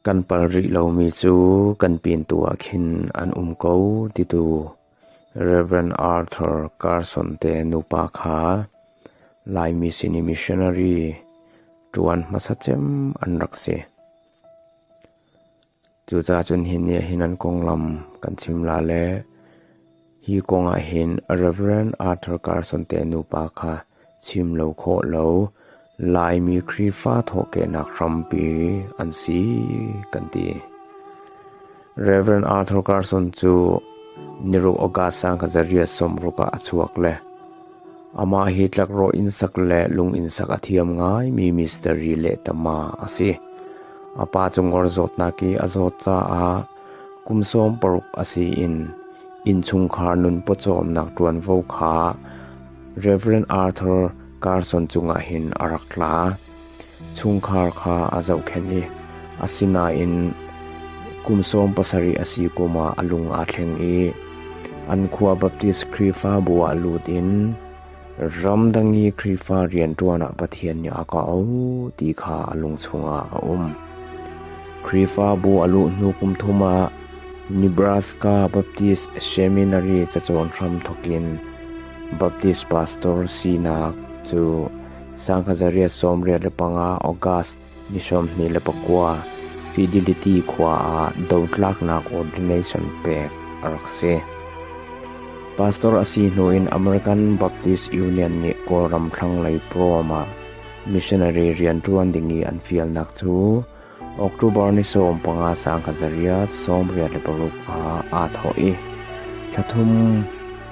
Kan pal rih lomi cu kan pintu ah khin an um ko titu Rev. Arthur Carson te nupa kha Laimi sin i missionary ṭuan hmasa cem an rak si. Cucaah cun hi nih hin an konglam kan chim la le hi kong ah hin Rev. Arthur Carson te nupa kha chim lo khawh lo Laimi Khrihfa thawhkehnak hrampi an si kan ti. Rev. Arthur Carson cu niruk August sang kazariat sawm ruk ah a chuak le Amah hi tlakrawh inn sak le lung inn sak a thiam ngaimi mistiri lehtama a si. A pa cu ngor zawtnak i a zawt caah kum sawm paruk a si in innchungkhar nun pawcawmnak ṭuanvo kha Rev. Arthur Carson cungah hin a rak tla. Chungkhar kha a zohkhenh i asinain kum sawm pasarih a si kum ah a lung aa thleng i an khua Baptist Khrihfabu ah lut in ramdang i Khrihfa rianṭuan ah Pathian nih a kah ti kha a lung chungah a um. Khrihfabu a luh hnu kum thum ah Nebraska Baptist Seminary cacawn hram thokin Baptist pastor sinak cu Sangha zariat sawmriat le panga August ni sawmhnih le pakua Fidelity khua ah dotlaaknak ordination pek a rak si. Pastor a si hnu in American Baptist Union nih Kawlram thlanglei prom ah missionary rian ṭuan ding i an fialnak cu October ni sawm panga sang khat zariat sawmriat le paruk ah aa thawh i thla thum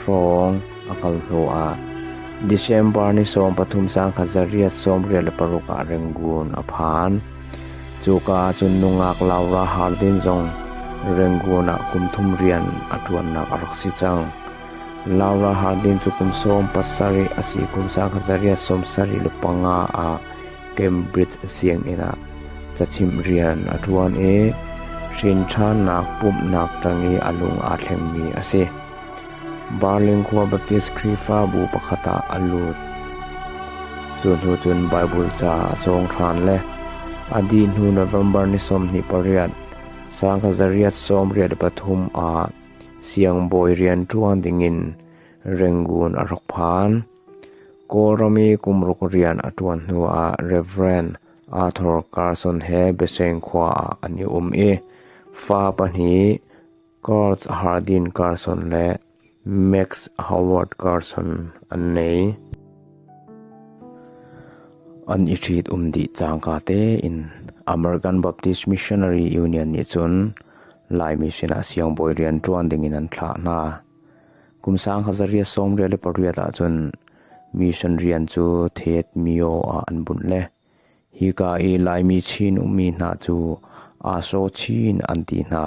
hrawng a kal hnuah December ni sawm pathum sang khat zariat sawmriat le paruk ah Rangoon a phan. Cuka ahcun nungak Laura Hardin zong Rangoon ah kum thum rian a ṭuannak a rak si cang. Laura Hardin cu kum sawm pasarih a si kum sang khat zariat sawm sarih le panga ah Cambridge sianginn ah cachimh rian a ṭuan i hrinṭhannak pumhnak ṭang i a lung aa thlengmi a si. Barling khua Baptist Khrihfabu pakhat ah a lut. Cu hnu cun Baibal ca a cawng ṭhan le a dih hnu November ni sawmhnih pariat sangkazariat sawmriat pathum ah siangbawi rian ṭuan dingin rengun a rak phan. Kawlram i kum ruk rian a ṭuan hnuah Rev. Arthur Carson he Biaseng khua ah an i um i fa pahnih Kurt Hardin Carson le Max Howard Carson an ngei. An i ṭhitum dih cangka tein American Baptist Missionary Union nih cun Laimi sinah siangbawi rian ṭuan dingin an thlah hna. Kum sang hazariat sawmriat le pariat ahcun mission rian cu Theet Myo ah an bunh le hika i Laimi Chin ummi hna cu Aso Chin an ti hna.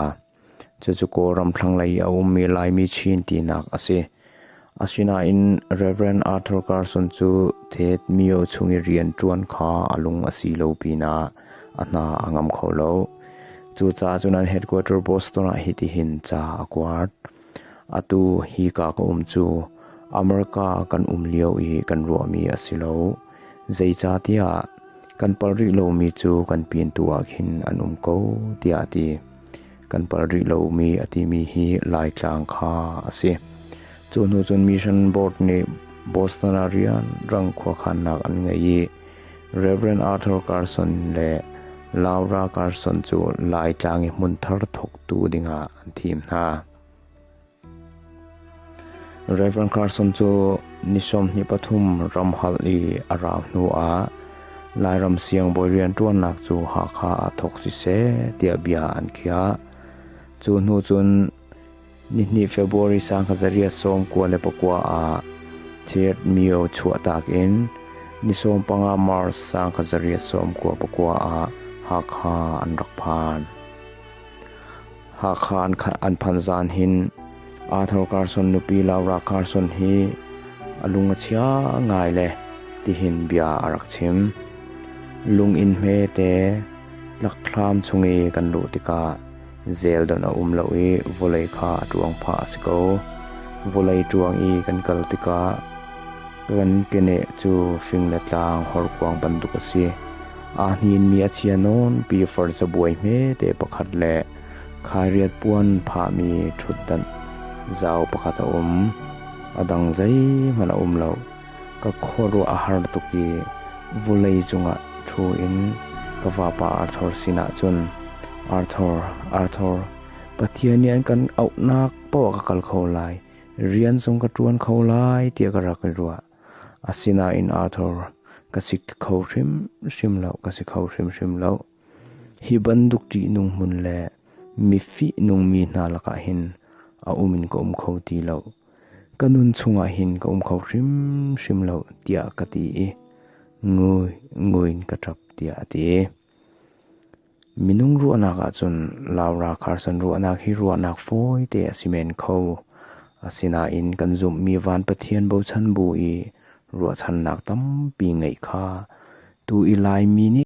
Cucu Kawlram thlanglei i a ummi Laimi Chin tinak a si. Asinain Rev. Arthur Carson cu Theet Myo chung i rian ṭuan kha a lung a si lo pinah a hna a ngam kho lo. Cucaah cun an headquarter Boston ah hitihin ca a kuat. Atu hi ka ka um cu America kan um lio i kan ruahmi a si lo. Zeicahtiah kan pal rih lomi cu kan pintu ah khin an um ko, tiah a ti. kan palh rih lomi a timi hi Laitlang kha a si. Cu hnu cun Mission Board nih Boston ah rianrang khuakhannak an ngei i Reverend Arthur Carson le Laura Carson cu Laitlang i hmun thar thawktu dingah an thim hna. Rev. Carson cu ni sawmhnih pathum ram hal i a rau hnuah Lairam siangbawi rianṭuannak cu Hakha ah thawk siseh tiah bia an khiah. Cu hnu cun nihnih February sangkazariat sawm kua le pakua ah Thirt mio chuahtak in ni sawm panga March sangkazariat sawm kua pakua ah Hakha an rak phan. Hakha an phan zan hin Athar Carson nupi Laura Carson hi a lung a chia ngai le tihin bia a rak chim. Lung in hme te tlakhlam chung i kan luh tikah zel don a um lo i vawlei kha a ṭuang pha a si ko. Vawlei ṭuang i kan kal tikah Kan keneh cu fing le tlang horkuang bantuk a si. Aa hninmi a chia nawn pi far cabuai hmete pakhat le khairiat puan phahmi ṭhutdanh zau pakhat a um. A dang zeihmanh a um lo. Ka khuaruah a har tuk i vulei cungah ṭhu in ka vapa Arthur sinah cun, Arthur, Arthur, Pathian nih an kan auhnak paoh a ka kal kho lai. Rian zong ka ṭuan kho lai tiah ka rak i ruah. Asinain Arthur, ka si kho hrimhrim lo, ka si kho hrimhrim lo. Hi bantuk ṭihnung hmun le mifih nungmi hna lakah hin a um in ka um kho ti lo. Ka nun chungah hin ka um kho hrimhrim lo tiah ka ti i ngui nguin ka ṭap tiah a ti. Minung ruahnak ahcun Lau Rakharsan ruahnak hi ruahnak fawite a si men kho. Asinain kan zumhmi van Pathian bochan bu i ruahchannak tampi ngeih kha tu i Laimi nih